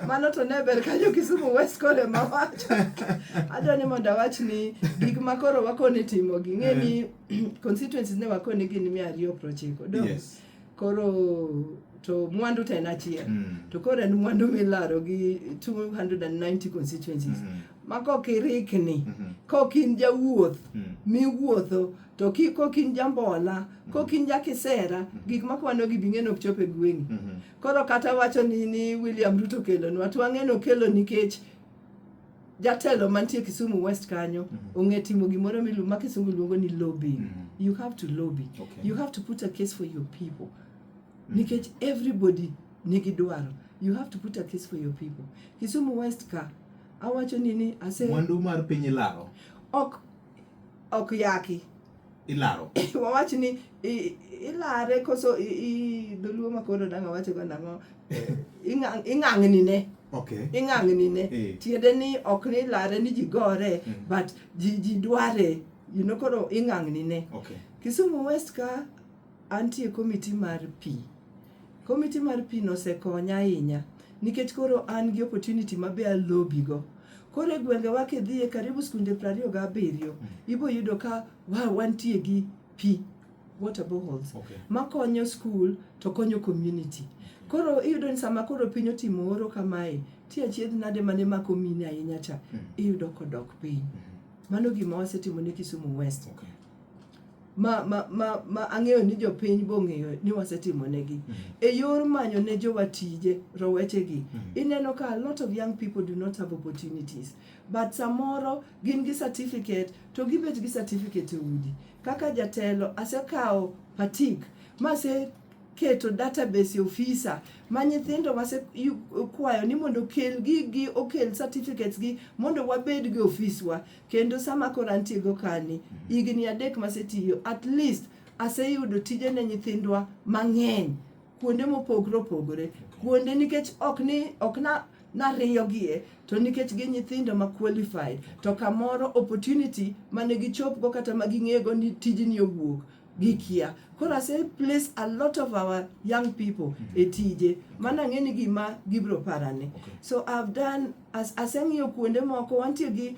mano to ne ber ka jo Kisumu West kod ema wacho adwa ni mondo awach ni gik ma koro wakoni timo gi ng'e ni eh. constituencies ne wakoni gin mia ariyo prochiko do yes. koro to mwandu to en achiel mm. to koro en mwandu milaro gi 290 constituencies mm -hmm. ma kok irikni mm -hmm. kok in jawuoth mm. miwuotho to ki kok in jambola kok in jakisera gik ma kwano gi bing'eno ok chop e gweng'i koro kata wacho ni ni William Ruto kelonwa to ang'e nokelo nikech jatelo mantie Kisumu West kanyo ong'e timo gimoro milu ma kisungu luongo ni lobbying you have to lobby Okay. you have to put a case for your people nikech everybody nigi dwaro you have to put a case for your people Kisumu West ka awacho ni ni ase mwandu mar piny ilaro ok ok yaki ilaro wawach ni i- ilare koso i- i- dholuo makono nanga wacho go nang'o Ing'ang- ing'ang'nine okay ing'ang'nine Eh. tiende ni ok ni ilare ni ji gore Mm. but ji ji dware you know koro ing'ang'nine okay Kisumu West ka Antie e komiti mar pi. Komiti mar pi no osekonya ahinya nikech koro an gi opportunity ma be a lobby go. Koro e gwengewa kidhiye karibu skunde prariyo gabiriyo, ibo yudo ka wa wantie gi pi, water boreholes, Okay. makonyo skul to konyo community. Koro iyudo ni sama koro piny otimo oro kamae, ti achiedh nade mane mako mine ahinya cha, iyudo kodok piny. Mano gima wasetimo ne Kisumu West. Okay. ma, ma, ma, ma ang'eyo ni jopiny bong'eyo ni wasetimonegi mm -hmm. e yor manyo ne jowa tije rowechegi mm -hmm. ineno ka a lot of young people do not have opportunities but samoro gin gi certificate to gibet gi certificate e udi kaka jatelo asekawo patik mase keto database ofisa ma nyithindo wasekwayo ni mondo okel gigi okel certificates gi mondo wabed gi ofiswa Kendo sama koro antiego kani, higni adek masetiyo, at least aseyudo tije ne nyithindwa mang'eny kuonde mopogore opogore. Kuonde nikech ok ni ok na nariyogie to nikech gi nyithindo ma qualified to kamoro opportunity mane gichopgo kata ma ging'ego ni tijni owuok gikia. Koro ase place a lot of our young people mm -hmm. e tije mana ang'e ni gima gibro parane. Okay. So I've done as aseng'iyo kuonde moko wantie gi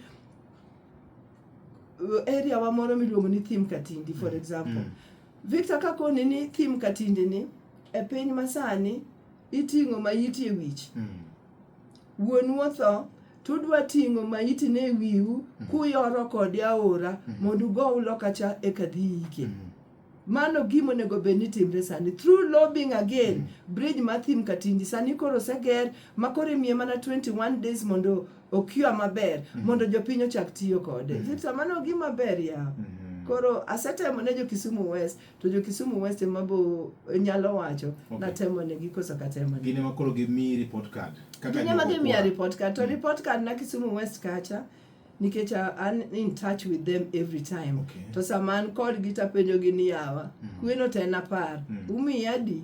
uh, area wa moro miluongo ni Thim Katindi for mm-hmm. example. Mm -hmm. Victor kakoni ni Thim Katindi ni e piny masani iting'o ma iti e wich. Mm -hmm. Wuonu otho, to udwa ting'o maitine e wiu mm. kuyoro kode aora mm. mondo ugo ulo kacha eka dhi yike. Mm. Mano gima onego bed ni timre sani. Through lobbying again, bridge ma thim Katindi sani koro oseger ma koro imiye mana 21 days mondo okiwa maber mondo jopiny ochak tiyo kode. Mano gima ber yawa. Mm-hmm. Koro asetemo ne jo Kisumu West to jo Kisumu West ema bo e, nyalo wacho okay. natemo negi koso katemo negi gine makoro gimi report card kaka gine ma gimi report card to mm. report card na Kisumu West kacha nikech an in touch with them every time okay. to sama an kodgi tapenjogi ni yawa mm. kweno to en apar mm. umiya adi